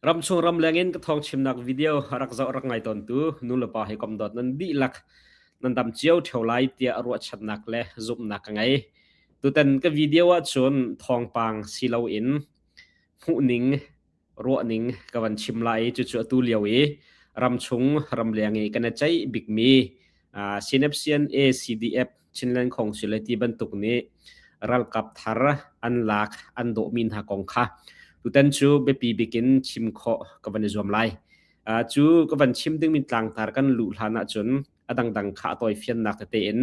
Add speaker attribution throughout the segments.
Speaker 1: Ramchung ramleng in ka thawngchimnak video rak zoh rak ngai tawntu nu le pa hi kom dawt nan dihlak nan dam cio theo lai tiah ruahchannak le zumhnak ka ngei. Tutan ka video ahcun thawngpang si loin hmuhning, ruahning ka van chim lai i cucu atu lio i ramchung ramleng i kan i ceih bikmi uh, Synaption ACDF Chinland Council le ti bantuk nih ralkap thar an lak an dawhmi hna kong kha tutan cu biapi bikin chim khawh ka van i zuam lai. Uh, cu ka van chim dingmi tlangtar kan luh hlan ahcun a dangdang kha a toifiannak tete in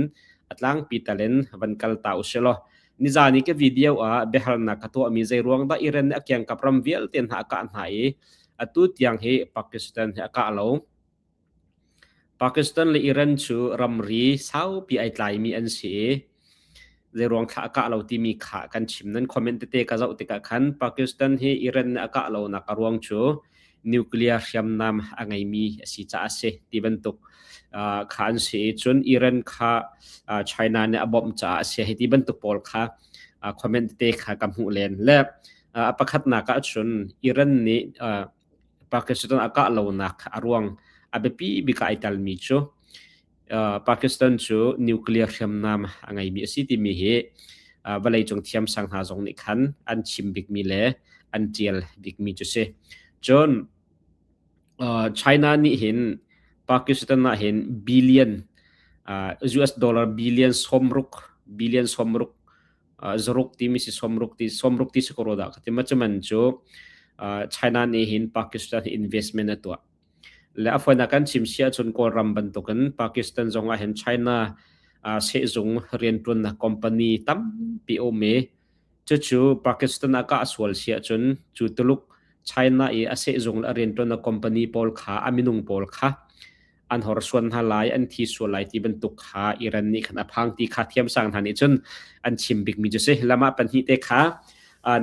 Speaker 1: a tlangpi talen van kal ta usilaw nizani ke video ah biahalnak ka tuahmi zei ruang dah iren a kiang kap ram vialte hna a kah hna i atu tiang hi Pakistan hi a kah lo Pakistan le Iran cu ramri saupi ai tlaimi an si i zeiruang thlah a kah lo timi kha kan chim. Nan comment tete ka zoh tikah khan Pakistan hi Iran nih a kah lonak a ruang cu nuclear hriamnam a ngeimi a si caah a si ti bantuk uh, kha an si i cun Iran kha uh, China nih a bawmh caah a si hi ti bantuk pawl kha uh, comment tete kha ka hmuh len le uh, a pakhatnak ah cun Iran nih uh, Pakistan a kah lonak a ruang a biapi bik ah ai telmi cu uh, Pakistan cu nuclear hriamnam a ngeimi a si timi hi uh, vawleicung thiamsang hna zong nih khan an chim bikmi le an tial bikmi cu si. Cun uh, China nih hin Pakistan ah hin billion uh, US dollar billion somruk billion somruk zaruk timi si somruk ti somruk ti si ko ro da ka ti ma chu man chu China ni hin Pakistan investment a tua le afoina kan chim sia chun kawlram bantukin Pakistan zongah hin China se zung riantuan na company tam pi o me chu chu Pakistan aka aswal sia chun chu tuluk China i ase zung la riantuan na company pawl kha aminung pawl kha an horsuan hna lai an thi sual lai ti bantuk kha Iran nih khan a phang ti kha thiamsang hna nih cun an chim bikmi cu si lama pahnih te kha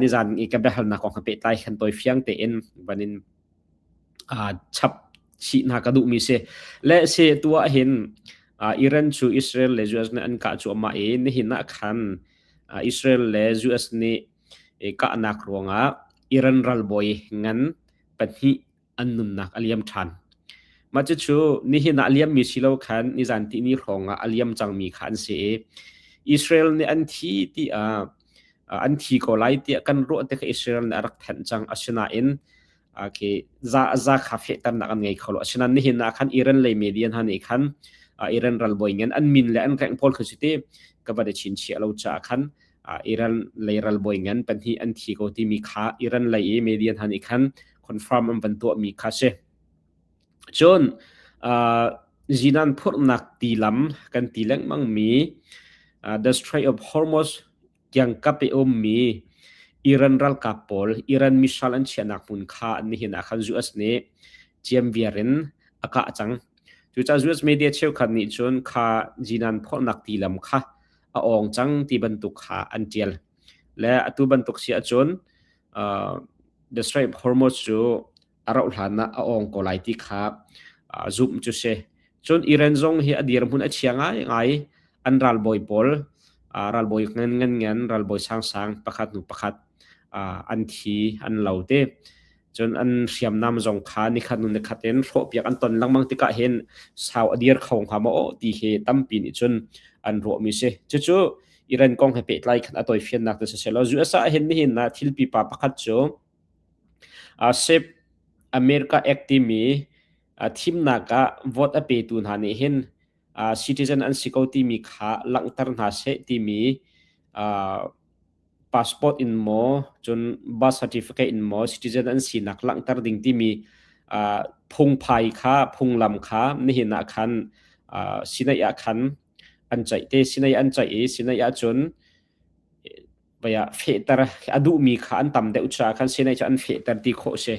Speaker 1: nizan i ka biahalnak kong kha pehtlai khan toi fiang tein vanin chap chi hna ka duhmi si le se tu ah hin Iran cu Israel le US nih an kah cuahmah i nihin ah khan Israel le US nih kahnak ruangah Iran ralbawi ngan pahnih an nunnak a liam ṭhan. Mah cucu nihin ah a liammi si lo khan nizan timi hrawng ah a liam cangmi kha an si i Israel nih an thi tiah an thi ko lai tiah kan ruah te kha Israel nih a rak thenh cang asinain okay za za kha fehternak an ngei kho lo asinain nihin ah khan Iran lei media hna nih khan Iran ralbawi ngan an min le an reng pawl kha cuti ka va de chin chia lo caah khan uh, Iran lei ralbawi ngan pahnih an thi ko timi kha Iran lei i media hna nih khan confirm an van tuah mi kha si cun uh, jinan phurnak ti lam kan ti lengmang mi uh, the Strait of Hormuz kiang kap e om mi Iran ralkap pawl Iran missile an chiahnak mun kha an ni hin akhan US ne chiam viarin aka chang cu ca US media cheu khat nih cun kha jinan phurnak ti lam kha a ong cang ti bantuk kha an tial le atu bantuk si ahcun uh, the strength hormones cu a rauh hlan ah a ong ko lai ti kha uh, zoom cu se cun iran zong hi a dir mun a chia ngai ngai an ralboi pawl uh, ralboi ngan ngan ngan ralboi sang sang pakhat nu pakhat uh, an thi an lo te cun an hriamnam zong kha nikhat nu nikhat in hrawhpiak an ton lengmang tikah hin sau a dir kho hnga maw ti hi tampi nih cun an ruah mi si cucu Iran kong he pehtlai khan a toi fiannak te siselo USA hin nihin na thil pipa pakhat cu sep America Act timi thimnak ah vote a petu hna nih hin citizen an si ko timi kha langhter hna seh timi passport in maw cun birth certificate in maw citizen an sinak langhter ding timi uh, phungphai kha phunglam kha nihin ah khan uh, sinai ah khan an chaih te sinai an chaih i sinai ah cun baya fehter adu mi kha an tam de ucha khan sinai chu an fehter ti kho se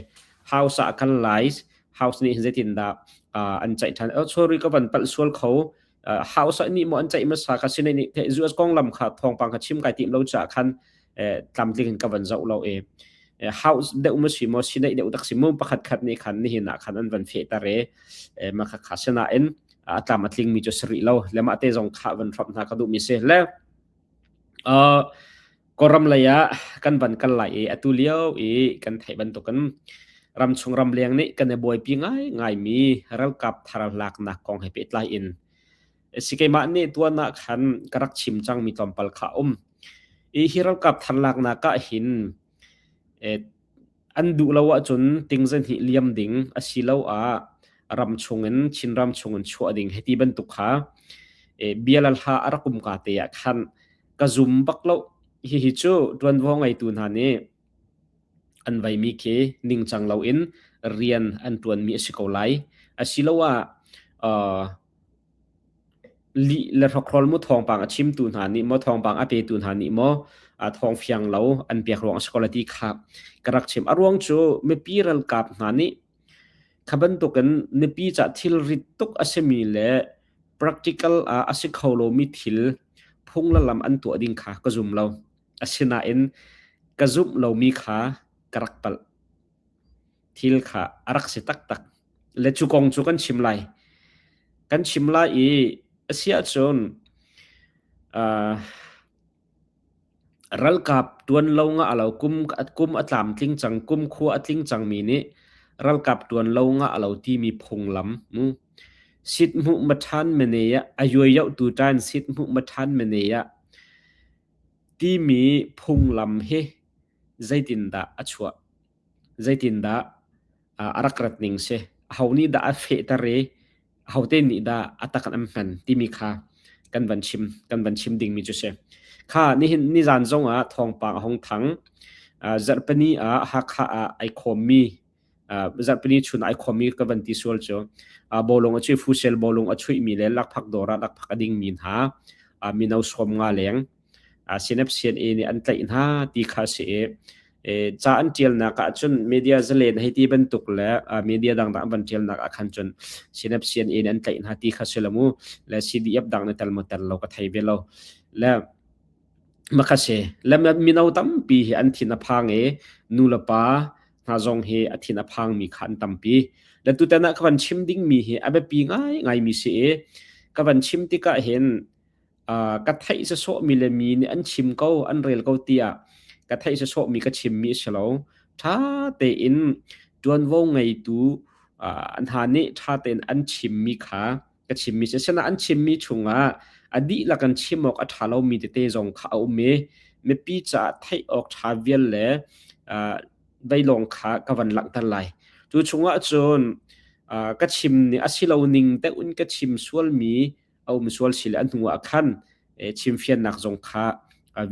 Speaker 1: house ah khan lies house ni zetin da an chaih than o chori ko ban pal sual kho house ah ni mo an ceih masa ka sinai ni US konglam kha thongpang ka chim kai tim lo cha khan tlamtling in ka van zau lo e house deu ma si mo sinai deu tak si mu pakhat khat ni khan ni hina khan an van fe tare ma kha kha sena in a tlam atling mi cho sri lo lema te zong kha van thop na ka du mi se le Kawlram lei ah kan van kal lai i atu lio i kan theih bantukin ramchung ramleng nih kan i buaipi ngaingaimi ralkap tharlaaknak kong he pehtlai in si keimah nih tuan ah khan ka rak chim cangmi tlawmpal kha a um. I hi ralkap tharlaaknak ah hin eh, an duh lo ahcun ting zeihnih liam ding asiloah ram chungin Chinram chungin chuah ding hiti bantuk kha bia le hla a rak um ka te ah khan ka zum bak lo hihi cu ṭuanvo ngeitu hna nih an vaimi khi ningcang loin rian an ṭuanmi a si ko lai asiloah Lih le hrokhrol mu thawngpang a chimtu hna nih maw thawngpang a petu hna nih maw a thawng fiang lo an pek ruang a si ko le ti kha ka rak chim. A ruang cu mipi ralkap hna nih kha bantukin nipi cah thilrit tuk a simi le practical ah a si kho lomi thil phung le lam an tuah ding kha ka zum lo. Asinain ka zumh lomi kha ka rak palh. thil kha a rak si taktak. Le cu kong cu kan chim lai. Kan chim lai i a si ahcun uh, ralkap tuan lo nga alo kum kum a tlam tling cang kum khua a tling cang mi nih ralkap tuan lo nga alo ti mi phunglam mu sit mu ma than mene ya ayoi yau tu tan sit mu ma than mene ya ti mi phunglam hi zeitin dah a chuah Zeitindah a rak rat ning si. Aho nih dah a fehter i ahote nih dah a tak in an hman timi kha kan van chim kan van chim dingmi cu si. Kha nihin nizan zongah thawngpang a hung thang. Uh, zarhpini ah Hakha ah ai khawmmi uh, zarhpini chun ai khawmmi ka van ti sual cu. Uh, bolung a cui fusel bolung a chuihmi le lakphak dawr ah lakphak a dingmi hna uh, mino sawm nga leng Sinep CNA nih an tlaih hna ti kha a si i ca an ṭialnak ah cun media zalen hei ti bantuk le media dangdang an van ṭialnak ah khan cun Sinep CNA nih an tlaih hna ti kha si lo mu le CDF dang nih tel mo tel lo ka thei ve lo le maka se le mino tampi hi an thin a phang i nu le pa hna zong hi a thin a phang mi kha an tampi le tutan ah ka van chim ding mi hi a biapi ngai ngai mi si i ka van chim tikah hin uh, ka theih se so mi le mi nih an chim ko an rel ko tia ka theih se so mi ka chim mi si lo tha te in tuanvo ngeitu uh, an ha nih tha tein an chim mi kha ka chim mi se sena an chim mi chungah adi la kan chim ok a tha lo mi te te zong kha a um e mipi cha thei ok tha vial le uh, dai long kha ka van lang tan lai tu chungah chun uh, ka chim ni asilo ning te un ka chim sual mi a um sual si le an hnu ah khan chimfiannak zong kha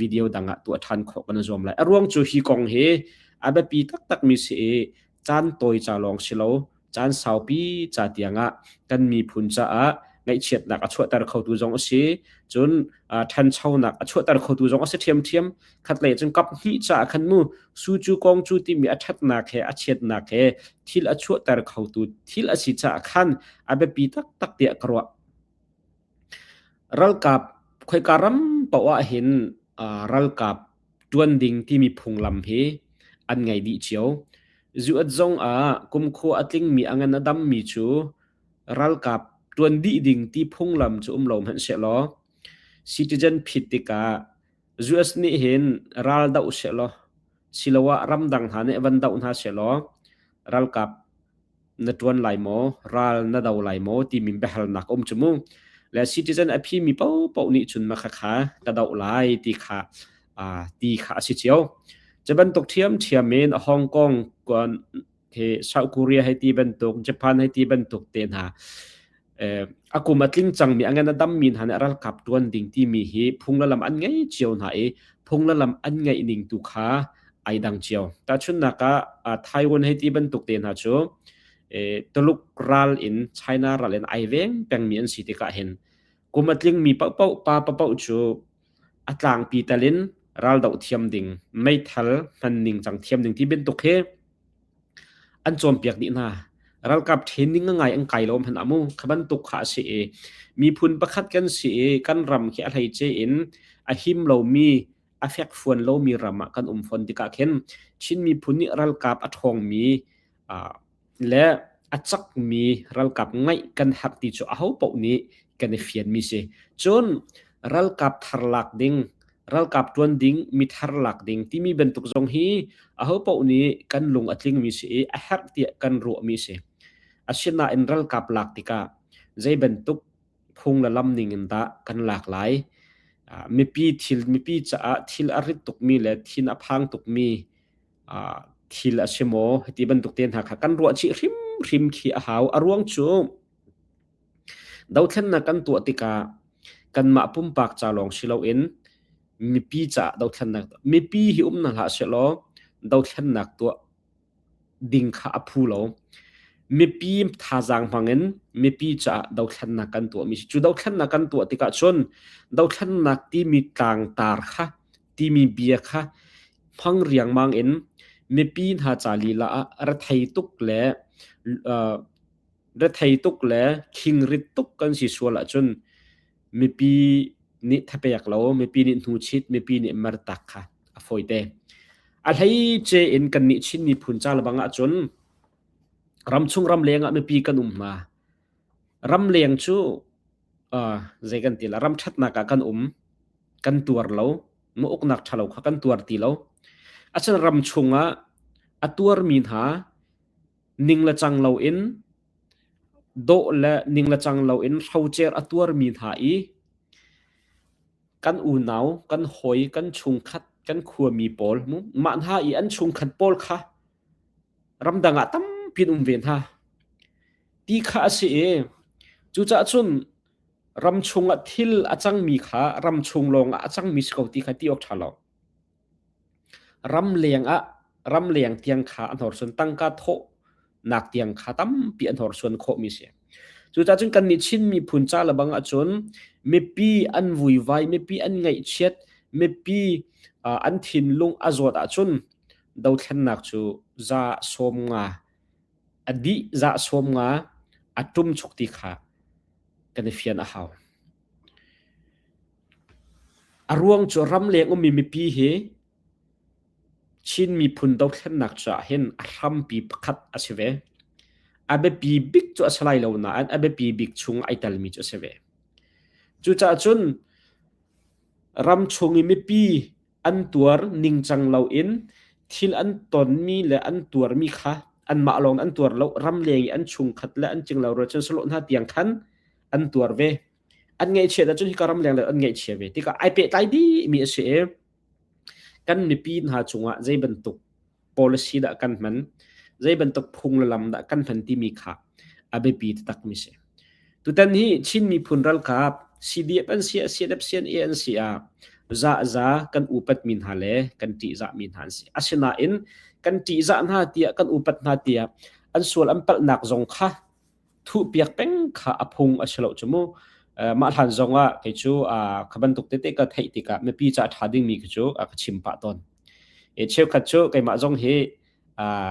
Speaker 1: video dang ah tuah ṭhan khawh kan zuam lai a ruang cu hi kong hi a biapi taktak mi si i caan tawi ca lawng si lo caan saupi ca tiang ah kan miphun caah ngaihchiatnak a chuahter khotu zong a si cun ṭhanchonak a chuahter khotu zong a si ṭhiamṭhiam khatlei cun kap hnih caah khan mu su cu kong cu timi a ṭhatnak he a chiatnak he thil a chuahter khotu thil a si caah khan a biapi taktak tiah ka ruah ralkap khoika ram poah hin ralkap ṭuan ding timi phunglam hi an ngei dih cio zuat zong ah kumkhua a tlingmi a ngan a dammi cu ralkap ṭuan dih ding ti phunglam cu um lo hmanh se law citizen phit tikah US nih hin ral doh sehlaw siloah ramdang hna nih van doh hna sehlaw ralkap na ṭuan lai maw, ral na do lai maw timi biahalnak um cu mu. Le citizen a phimi popoh nih cun makhakha ka doh lai ti kha ti kha a si cio. Cu bantuk ṭhiamṭhiam in Hong Kong hi South Korea hai ti bantuk Japan hai ti bantuk te hna akum atling changmi angen adam min hane ral kap tuan ding ti mi hi phunglalam an ngei cio hna i phunglalam an ngei ning tu kha ai dang cio ta chun naka Taiwan hai ti bantuk te hna chu tuluk ral in China ral in ai veng peng mi an si ti ka hin kumatling mi pa pa pa pa chu a tlangpi tal in raldoh thiam ding, meithal hman ningcang thiam ding ti bantuk hi an cawnpiak dih hna. Ralkap training ngai an kai lo hmanh amu. Kha bantuk kha a si i miphun pakhat kan si i kan ram khi a hleice in a him lomi, a fekfuan lomi ram ah kan um fawn tikah khin Chin miphun nih ralkap a ṭhawngmi le a cakmi ralkap ngeih kan herh ti cu ahopaoh nih kan i fianmi si. Cun ralkap thar lak ding, ralkap ṭuan ding, mi thar lak ding timi bantuk zong hi ahopaoh nih kan lung a tlingmi si i a herh tiah kan ruahmi si. Asinain ralkap lak tikah zei bantuk phung le lam ning in dah kan lak lai? Uh, mipi thil mipi caah thil a rit tukmi le thin a phang tukmi thil a si maw ti bantuk te hna kha kan ruah chih hrimhrim khi a hau a ruang cu dothlennak kan tuah tikah kanmah pumpak ca lawng si loin mipi ca dothlennak mipi hi um na hlah se law dothlennak tuah ding kha a phu lo mipi thazaang hmangin mipi caah dothlennak kan tuah mi si cu dothlennak kan tuah tikah cun dothlennak timi tlangtar kha timi bia kha phang riangmang in mipi hna ca lila ah rethei tuk le uh, rethei tuk le khingrit tuk kan si sual ahcun mipi nih thapek lo mipi nih hnu chit mipi nih mar tak kha a foite a hlei che in kan nih chin miphun ca lebang ahcun ram chung ram leng ah mipi kan um ma Ramleng cu uh, zei kan ti la ram ṭhatnak ah kan um. Kan tuar lo. Mu uknak ṭhalo kha kan tuar ti lo. Achun ram chungah a tuarmi hna ning le cang loin dawh le ning le cang loin hrocer a tuarmi hna i kan unau, kan hawi, kan chungkhat, kan khuami pawl mu mah hna i an chungkhat pawl kha ramdang ah tampi an um ve hna ti kha a si i cucaah cun ram chungah thil a cangmi kha ram chung lawngah a cangmi si ko ti kha ti awk ṭha lo ram leng ah ram leng tiang kha a hnorsuan tangka thawhnak tiang kha tampi a hnorsuan khawhmi si cucaah cun kannih Chinmi phun ca le bang ahcun mipi an vuivai mipi an ngaihchiat mipi an thinlung a zawt ahcun dothlennak cu za sawm nga a dih za sawm nga a tum chok ti kha kan i fian a hau a ruang cu ram leng ummi mipi hi Chin miphun dothlennak cu ah hin a hrampi pakhat a si ve a biapi bik cu a si lai lo nain a biapi bik chung ai telmi cu a si ve cucaah cun ram chung i mipi an tuar ningcang loin thil an tonmi le an tuarmi kha anmah lawng an tuar lo ramleng i an chungkhat le an cinglo rel cun salo hna tiang khan an tuar ve an ngaihchiat ahcun hika ramleng le an ngaihchia ve tikah ai pehtlai dihmi a si i kan mipi hna cungah zei bantuk policy dah kan hman zei bantuk phung le lam dah kan hman timi kha a biapi takmi si tutan hi chin miphun ralkap CDF an si CDF CNA an si a za za kan upat mi hna le kan ti za mi hna an si asinain kan ti za hna tiah kan upat hna tiah an sual an palhnak zong kha thuhpiak peng kha a phung a si lo cu mu mah hlan zong ah kei cu kha bantuk tete ka theih tikah mipi ca ṭha dingmi khi cu ka chim pah tawn e cheukhat cu keimah zong hi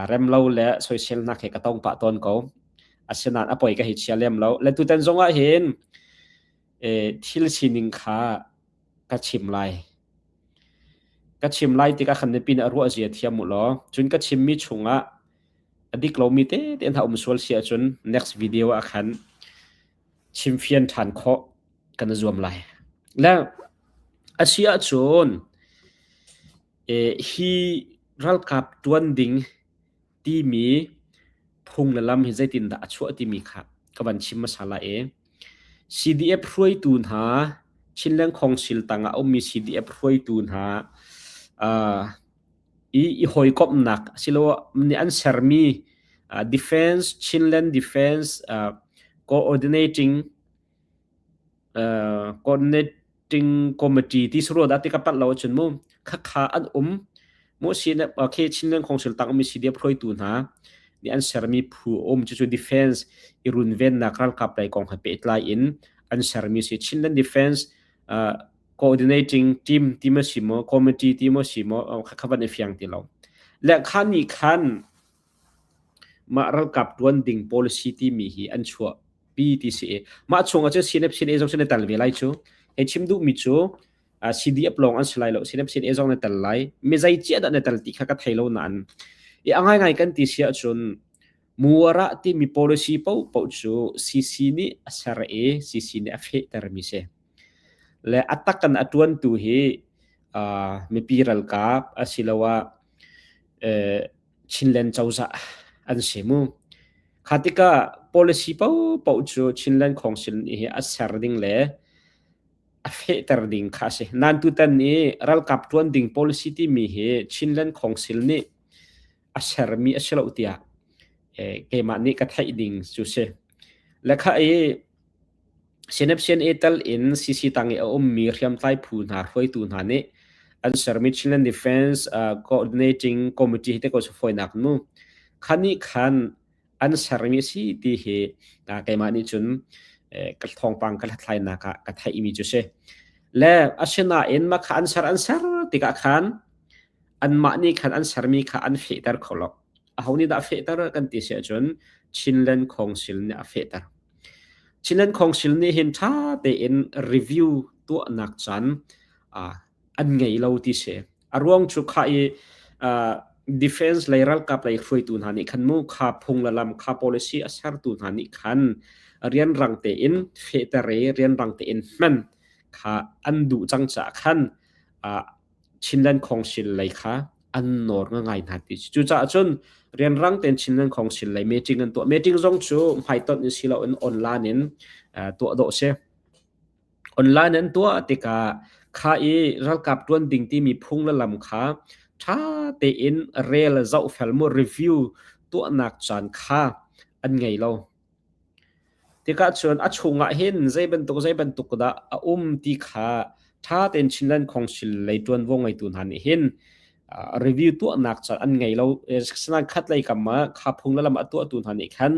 Speaker 1: remlo le soiselnak he ka tong pah tawn ko asinain a poi ka hi chia lem lo le tutan zong ah hin thil sining kha ka chim lai ka chim lai tikah khan mipi nih a ruah zia thiam u law cun ka chimmi chung ah A dik lomi tete na um sual si ahcun next video ah khan chimfian ṭhan khawh kan i zuam lai. Le a si ahcun eh, hi ralkap ṭuan ding timi phung le lam hi zeitindah a chuah timi kha ka van chim hmasa lai i CDF hruaitu hna Chinland Council tangah a ummi CDF hruaitu hna uh, i i hawikomhnak asiloah nih an sermi uh, defense Chinland defense uh, coordinating uh, coordinating committee ti suru da ti ka pat lo chun mu kha kha an um mu si na ke Chinland council tang mi si dia phroi tu hna ni an sermi phu um chu chu defense i runven nak ral kap lai kong ha pe tlai in an sermi si Chinland defense uh, coordinating team ti ma si maw committee ti maw si maw kha kha van i fiang ti lo le kha ni khan ma ralkap tuan ding policy ti mi hi an chua PTCA ma chung a chu CNF CNA zong sin tal ve lai chu he chim du mi chu CDF long an slai lo CNF CNA zong na tal lai mi zai chi da na tal ti kha ka thai lo na an i angai ngai kan ti sia chun Mu a rah timi policy paohpaoh cu CC nih a ser i CC nih a fehtermi si. Le a tak in a ṭuantu hi uh, mipi ralkap asiloah uh, Chinland cozah an si mu. Kha tikah policy paohpaoh cu Chinland Council nih hi a ser ding le a fehter ding kha si. Nan tutan i ralkap ṭuan ding policy timi hi Chinland Council nih a sermi a si lo tiah eh, keimah nih ka theih ding cu si lekha i sinep sin e tal in CC tang i a ummi hriamtlai phu hna hruaitu hna nih an sermi Chinland Defense uh, Coordinating Committee te ko su foinak nu khani khan an sermi si ti hi keimah nih cun ka thawngpang ka hlathlainak ah ka theihmi cu si le asinain mah kha an ser an ser tikah khan anmah nih khan an sermi kha an fehter kho lo aho nih dah fehter kan ti si ahcun Chinland Council nih a fehter Chinland Council nih hin ṭha tein review tuahnak can an ngei lo ti si. A ruang cu khah i uh, defense lei ralkap lei hruaitu hna nih khan mu kha phung le lam kha policy a sertu hna nih khan rian rang tein fehter i rian rang tein hman kha an duh cang caah khan uh, Chinland Council lei kha an nawr nga ngai hna ti cucaah cun rian rang ten Chinland Council lei meeting an tuah meeting zong cu hmaiton in si lo in online in uh, tuah dawh si Online an tuah tikah kha i ralkap ṭuan ding timi phung le lam kha ṭha tein rel zohfel mu review tuahnak caan kha an ngei lo. Tikah cun a chungah hin zei bantuk zei bantuk dah a um ti kha ṭha tein Chinland Council lei ṭuanvo ngeitu hna nih hin review tuahnak cu an ngei lo sanain khatlei kam ah kha phung le lam a tuahtu hna nih khan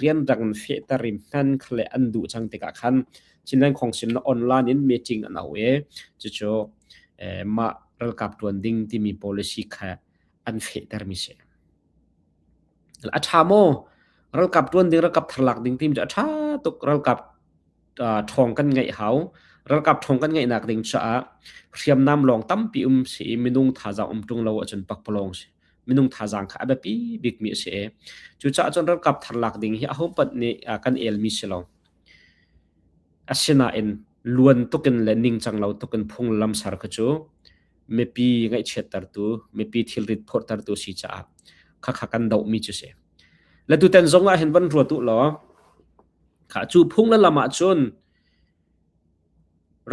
Speaker 1: rianrang in fehter in hnan khale an duh cang tikah khan cinan khong sim na online in meeting an au e cucu mah ralkap tuan ding timi policy kha an fehter mi si a tha mo ralkap tuan ding ralkap tharlak ding tim cu a tha tuk ralkap uh, ṭhawng kan ngeih hau. Ralkap ṭhawng kan ngeihnak ding caah hriamnam lawng tampi um si i minung thazaang um ṭung lo ahcun pakpalawng si minung thazaang kha a biapi bikmi a si i cucaah cun ralkap thar lak ding hi ahohmanh nih uh, kan elmi si lo. Asinain luan tukin le ningcang lo tukin phunglam sar kha cu mipi ngaihchiattertu mipi thilrit phorhtertu si caah khakha kan dohmi cu si. Le tutan zong ah hin van ruat u law Kha cu phung na lam ahcun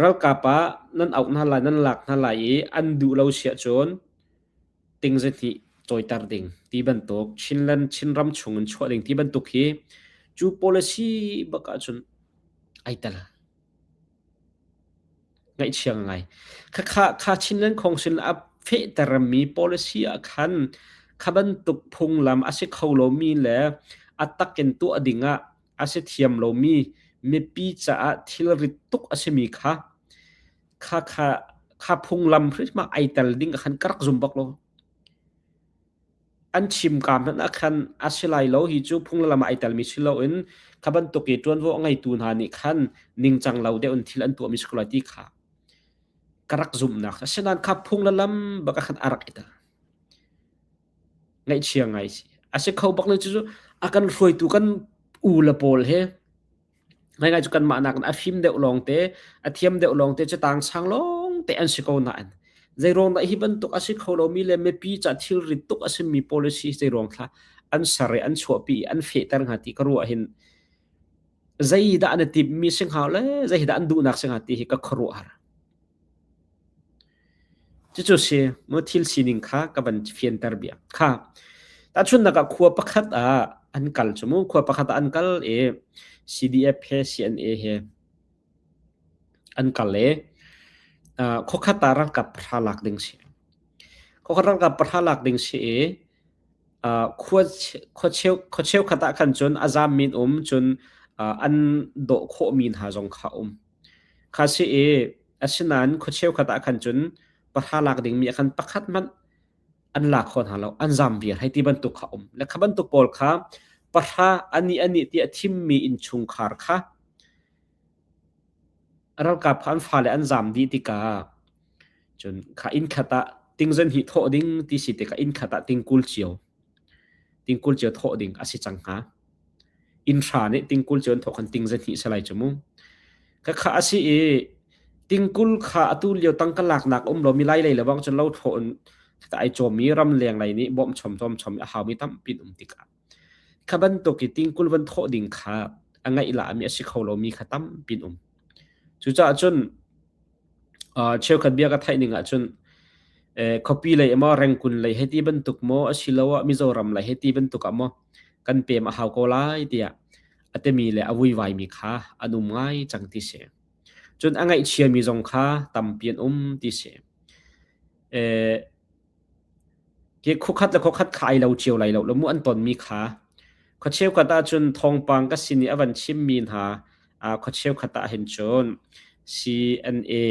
Speaker 1: ralkap ah nan auh hna lai, nan lak hna lai i an duh lo siah cun ting zahnih cawiter ding ti bantuk Chinland Chinram chung in chuah ding ti bantuk hi cu policy bak ahcun ai tel. ngaihchiang ngai. Khakha kha Chinland Council a fehtermi policy ah khan kha bantuk phunglam a si kho lomi le a tak in tuah ding ah a si thiam lomi mipi caah thilrit tuk a simi kha kha kha kha phunglam hrimah ai tel ding ah khan ka rak zum bak lo. an chimka hmanh ah khan a si lai lo hi cu phung le lam ah ai telmi si loin kha bantuk i ṭuanvo a ngeitu hna nih khan ningcang lo deuh in thil an tuahmi si ko lai ti kha ka rak zumhnak asinain kha phung le lam bak a khan a rak ita ngaihchia ngai si a si kho bak le cucu a kan hruaitu kan u le pawl he Ngai cu kanmah nak in a fim deuh lawngte, a thiam deuh lawngte cu tang sang lawngte an si ko nain zeiruang dah hi bantuk a si kho lomi le mipi ca thilri tuk a simi policy zeiruang thla an ser i an chuahpi i an fehter hnga ti ka ruah hin zei dah na timhmi si hnga le zei dah an duhnak si hnga ti hi ka khuaruahhar. Cucu si maw thil sining kha ka van fianter biak kha. Tahchunnak ah khua pakhat ah an kal cu mu khua pakhat ah an kal i CDF he CNA he an kal i uh, khokhat ah rangkap pahra lak ding si. Khokhat rangkap pahra lak ding si i uh, khua khuacheu khuacheu khat ah khan cun a zaam min um cun uh, an doh khawh min ha zong kha um. Kha si i asinain khua cheukhat ah khan cun pahra lak dingmi ah khan pakhat hmanh an la kho hna lo, an zam vial hei ti bantuk kha a um. Le kha bantuk pawl kha pahra ani ani ti a thimmi innchungkhar kha ralkap kha an fale an zam dih tikah cun kha inn khat ah tingzan hi thawh ding ti si tikah inn khat ah tingkul cio tingkul cio thawh ding a si cang hnga. Innhra nih tingkul cu an thawh khan ting zahnih salai cu mu. Khakha a si i tingkul kha atu lio tangka laknak um lo mi lai lei lebang cun lo thlaw in ta ai cawm mi ram leng lei nih bawm chom chom chom a hau mi tampi an um tikah kha bantuk i tingkul van thawh ding kha a ngeih la mi a si kho lo mi kha tampi an um. Cucaah cun cheukhat bia ka theih ning ahcun khuapi lei maw rengkun lei hei ti bantuk maw asiloah Mizoram lei hei ti bantuk ah maw kan pem a hau ko lai tiah a temi le a vuivaimi kha an um ngai cang ti si. Cun a ngaihchiami zong kha tampi an um ti si. Hi khuakhat le khuakhat kha ai lo cio lai lo. Lamu an tonmi kha. Khua cheukhat ahcun thawngpang ka sin i a van chimmi hna aa khua cheukhat ahhin cun CNA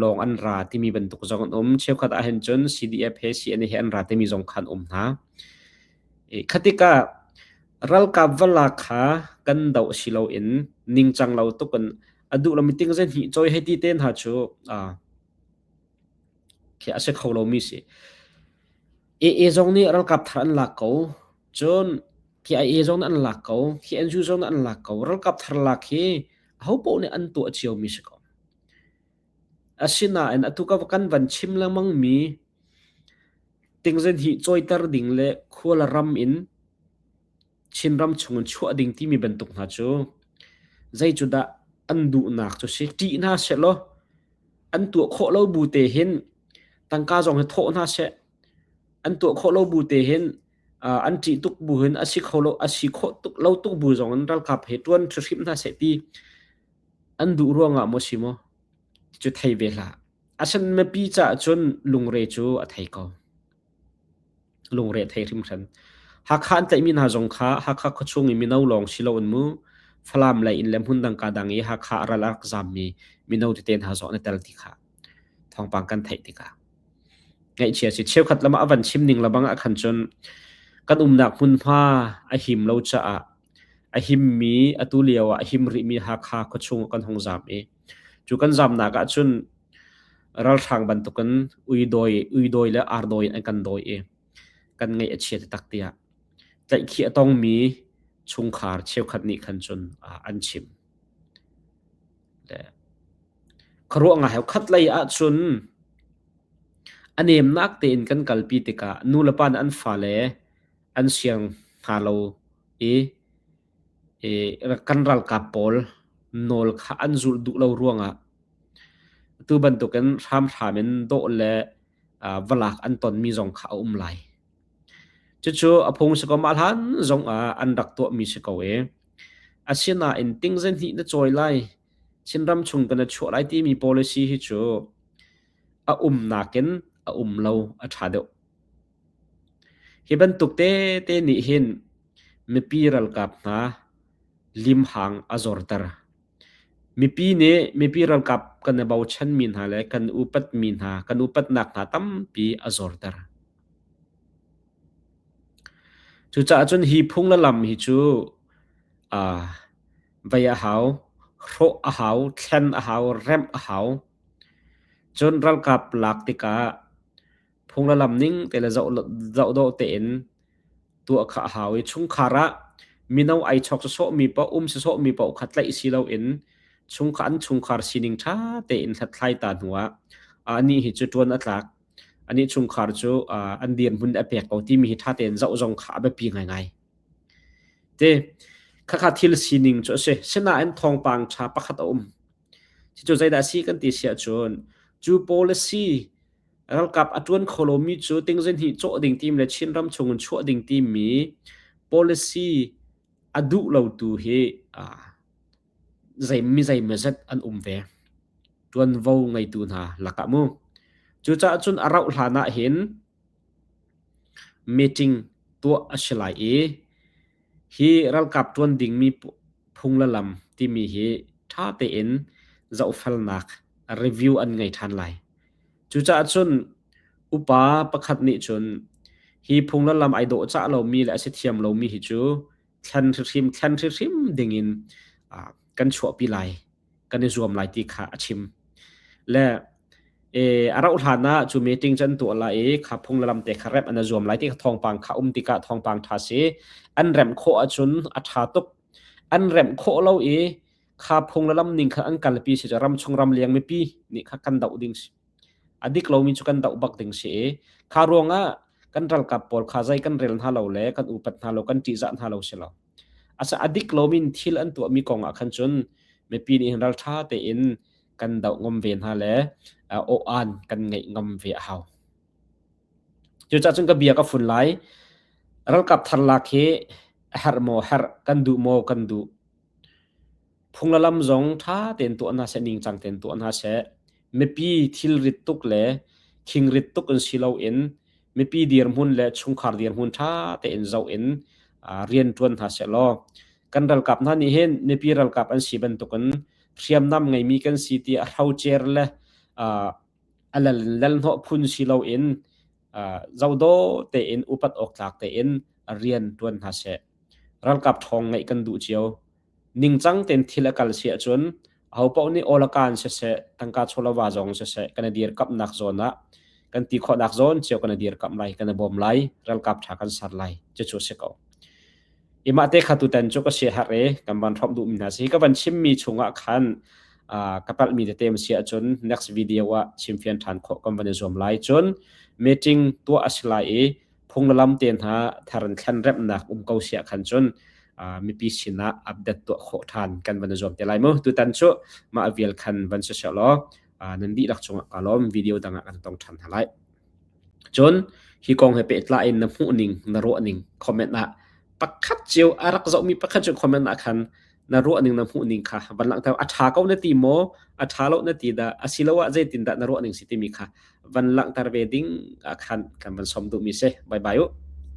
Speaker 1: lawng an ra timi bantuk zong an um. Cheukhat ahhin cun CDF he CNA he an ra timi zong kha an um hna. I khatikah ralkap vala kha kan doh si loin ningcang lo tuk in a duh lo miting zei hnih cawi hei ti te hna cu aa khi a si kho lomi si. AA zong nih ralkap thar an lak ko. Cun KIA zong nih an lak ko. Khi NGO zong nih an lak ko. Ralkap thar lak hi ahopoh nih an tuah ciomi si ko. Asinain atu ka kan van chim lengmang mi tingzen hi cawiter ding le khual ram in Chinram chung in chuah ding timi bantuk hna cu zei cu dah an duhnak cu si ṭih hna seh law an tuah khawh lo bu te hin tangka zong hi thawh hna seh an tuah khawh lo bu te hin uh, an ṭih tuk bu hin asi kho lo asi khawh tuk lo tuk bu zong in ralkap he ṭuan ṭhihrim hna seh ti an duh ruangah maw si maw cu thei ve hlah asen mipi caah cun lungre cu a thei ko Lungre thei hrimhran. Hakha an tlaihmi hna zong kha Hakha khuachung i mino lawng si loin mu Falam lei in le hmundang kaa dang i Hakha a ral a rak zammi mino tete hna zong an i tel ti kha thawngpang kan theih tikah. Ngaihchia si. Cheukhat lam ah a van chim ning lebang ah khan cun kan umnak hmunhma a him lo caah a himmi atu lio ah a him rihmi Hakha khuachung ah kan hung zaam i cu kan zaamnak ahcun ralhrang bantukin uidawi uidawi le ardawi in an kan dawi i kan ngaih a chia taktak tiah tlaihkhi a tongmi chungkhar cheukhat nih khan cun uh, an chim le kharuah ngai khat lei ahcun a nemnak tein kan kalpi tikah nulepa nih an fale an siang hna lo i kan ralkap pawl nawl kha an zulh duh lo ruangah tu bantukin hramhram in dawh le valak an tonmi zong kha a um lai. Cucu a phung si ko ma hlan zong ah an rak tuahmi si ko e. Asinain ting zen hi na choi lai Chinram chung kan a chuah lai timi policy hi cu a um nakin a um lo a tha deuh. Hi bantuk tete nih hin mipi ralkap hna limhang a zorter. Mipi nih mipi ralkap kan i bochanmi hna le kan upatmi hna, kan upatnak hna tampi a zorter. Cucaah cun hi phung le lam hi cu aa vai a hau, hrawh a hau, thlen a hau, remh a hau. Cun ralkap lak tikah phung le lam ning te le zoh zoh dawh tein tuah kha a hau i chungkhar ah mino ai chawk si sawh mi paoh um si sawh mi paoh kha tlaih si lo in chungkhar an chungkhar sining ṭha tein hlathlai ta hnu ah anih hi cu ṭuan a tlak anih chungkhar cu an dirhmun a pek ko timi hi ṭha tein zoh zong kha a biapi ngaingai te khakha thil sining cu a si sinain thawngpang ṭha pakhat a um Cucu zeidah a si kan ti si ahcun cu policy ralkap a tuan kho lomi cu ting zihnih cawh ding tim le Chin ram chung in chuah ding timmi policy a duh lo tu hi zei mi zeimazat an um ve tuanvo ngeitu hna lakah mu. Cucaah cun a rauh hlan ah hin meeting tuah a si lai i hi ralkap ṭuan dingmi phung le lam timi hi ṭha tein zohfelnak review an ngei ṭhan lai. Cucaah cun upa pakhat nih cun hi phung le lam ai dawh cah lomi le a si thiam lomi hi cu thlen hrim thlen hrim dingin kan chuahpi lai kan i zuam lai ti kha a chim le e arau hlan ah chu meeting chan tu la e kha phung lam te kha rep ana zuam lai ti kha thongpang kha um dika thongpang tha si an rem kho achun atha tuk an rem kho lo e kha phung la lam ning kha an kal pi si ram chung ram liang mi pi ni kha kan dau ding si a dik lomi cu kan doh bak ding si i kha ruangah kan ralkap pawl kha zei kan rel hna lo le kan upat hna lo kan ṭihzah hna lo si lo asa a dik lomi in thil an tuahmi kong ah khan cun mipi nih hin ralṭha tein kan doh ngam ve hna le awaan kan ngeih ngam ve a hau cucah cun ka bia ka fun lai ralkap thar lak hi a herh maw herh kan duh maw kan duh phung le lam zong ṭha tein tuah hna seh, ningcang tein tuah hna seh. Mipi thilrit tuk le khingrit tuk in si loin mipi dirhmun le chungkhar dirhmun ṭha tein zoh in ah, rian ṭuan hna seh law kan ralkap hna nih hin mipi ralkap an si bantukin hriamnam ngeimi kan si ti a hrocer le ah, a lal lal hnawh phun si loin ah, zodaw tein upat awk tlak tein rian ṭuan hna seh. Ralkap ṭhawng ngeih kan duh cio. ningcang tein thil a kal si ahcun ahopaoh nih awl a kaan siseh tangka chawlova zong siseh kan i dirkamhnak zawn ah kan ti khawhnak zawn cio kan i dirkamh lai kan i bawm lai ralkap tha kan ser lai cucu si ko imah te khatu ten cu ka si har e kan van hrop duh mi hna si ka van chim mi chung ah khan ka palh mi tete ma si ahcun next video ah chim fian than khawh kan van i zuam lai cun meeting tuah a si lai i phunglam te hna thar in thlen remnak um ko sia khan cun mipi sinah update tuah khawh than kan van zuam te lai mu tutan cu ma avial khan van se se law nan di lak chung ka lom video dang kan tong than ha lai cun hi kong he pe tla in na mu ning na ro ning comment na pakhat chiu arak zo mi pakhat cu comment na khan na ruahning na hmuhning kha van langhter a ṭha ko na ti maw a ṭha lo na ti dah asiloah zeitindah na ruahning si timi kha van langhter ve ding khan kan van som duhmi si bye bye u